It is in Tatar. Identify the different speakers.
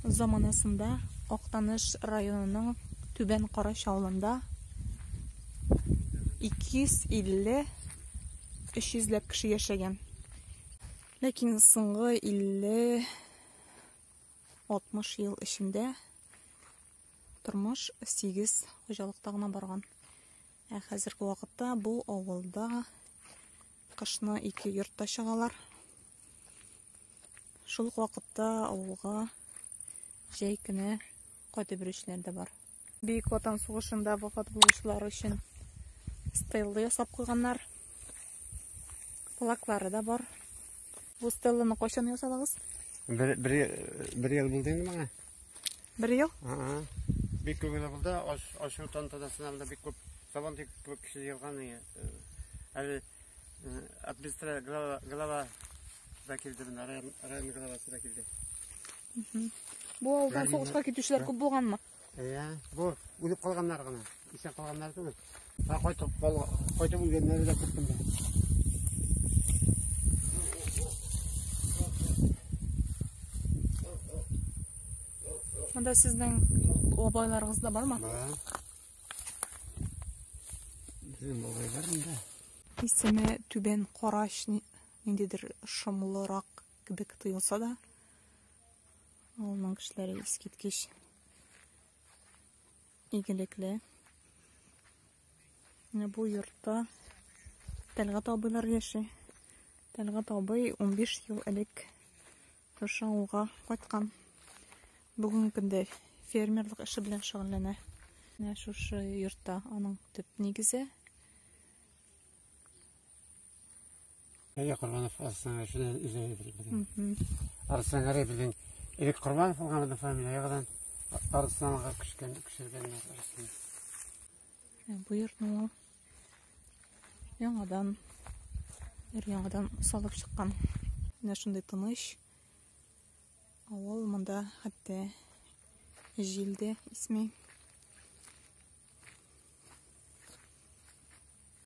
Speaker 1: Заманасында Актаныш районының Түбән Карач авылында 250-300 ләп кеше яшәгән. Ләкин соңгы 50-60 ел эчендә тормыш сигез хуҗалыкта гына барган. Ә хәзерге вакытта бу авылда кышны ике йортта чыгалар. Шул ук вакытта авылга җәй көне кайтып йөрүчеләр дә бар. Бөек Ватан сугышында вафат булучылар өчен стелла ясап куйганнар. Плаклары да бар. Бу стелланы кайчан ясадыгыз? Бер, бер,
Speaker 2: бер ел булды инде моңа. Бер ел?
Speaker 1: Ага. Бик
Speaker 2: күп генә булды. Аш, ашу тантанасына монда бик күп сабан тик күп кеше җыелган. и, э, Әле э, администра глава, глава да килде менә, район, район главасы да килде.
Speaker 1: Бу авылдан сугышка китүчеләр күп булганмы? Иә, бу
Speaker 2: үлеп калганнар гына. Исән калганнар түгел. Ә кайтып кал, кайтып үлгәннәре дә күп инде.
Speaker 1: Монда сезнең бабайларыгыз да бармы? Бар.
Speaker 2: Безнең бабайлар монда. Исеме
Speaker 1: Түбән Карач ни- ниндидер шомлырак кебек тоелса да, авылның кешеләре искиткеч Игелекле. Менә бу йортта Тәлгат абыйлар яши. Тәлгат абый 15 ел элек шушы авылга кайткан. Бүгенге көндә фермерлык эше белән шөгыльләнә. Менә шушы йортта аның төп нигезе.
Speaker 2: Әйе, Корбанов Арсланга шуны үзе әйтер белән. Арсланга белән элек Корбанов булган да фамилиягәдән Арсланга күчкән күчергәннәр Арслан. Ә,
Speaker 1: бу йортны ул яңадан ир яңадан салып чыккан. Менә шундый тыныч авыл монда хәтта җил дә исми.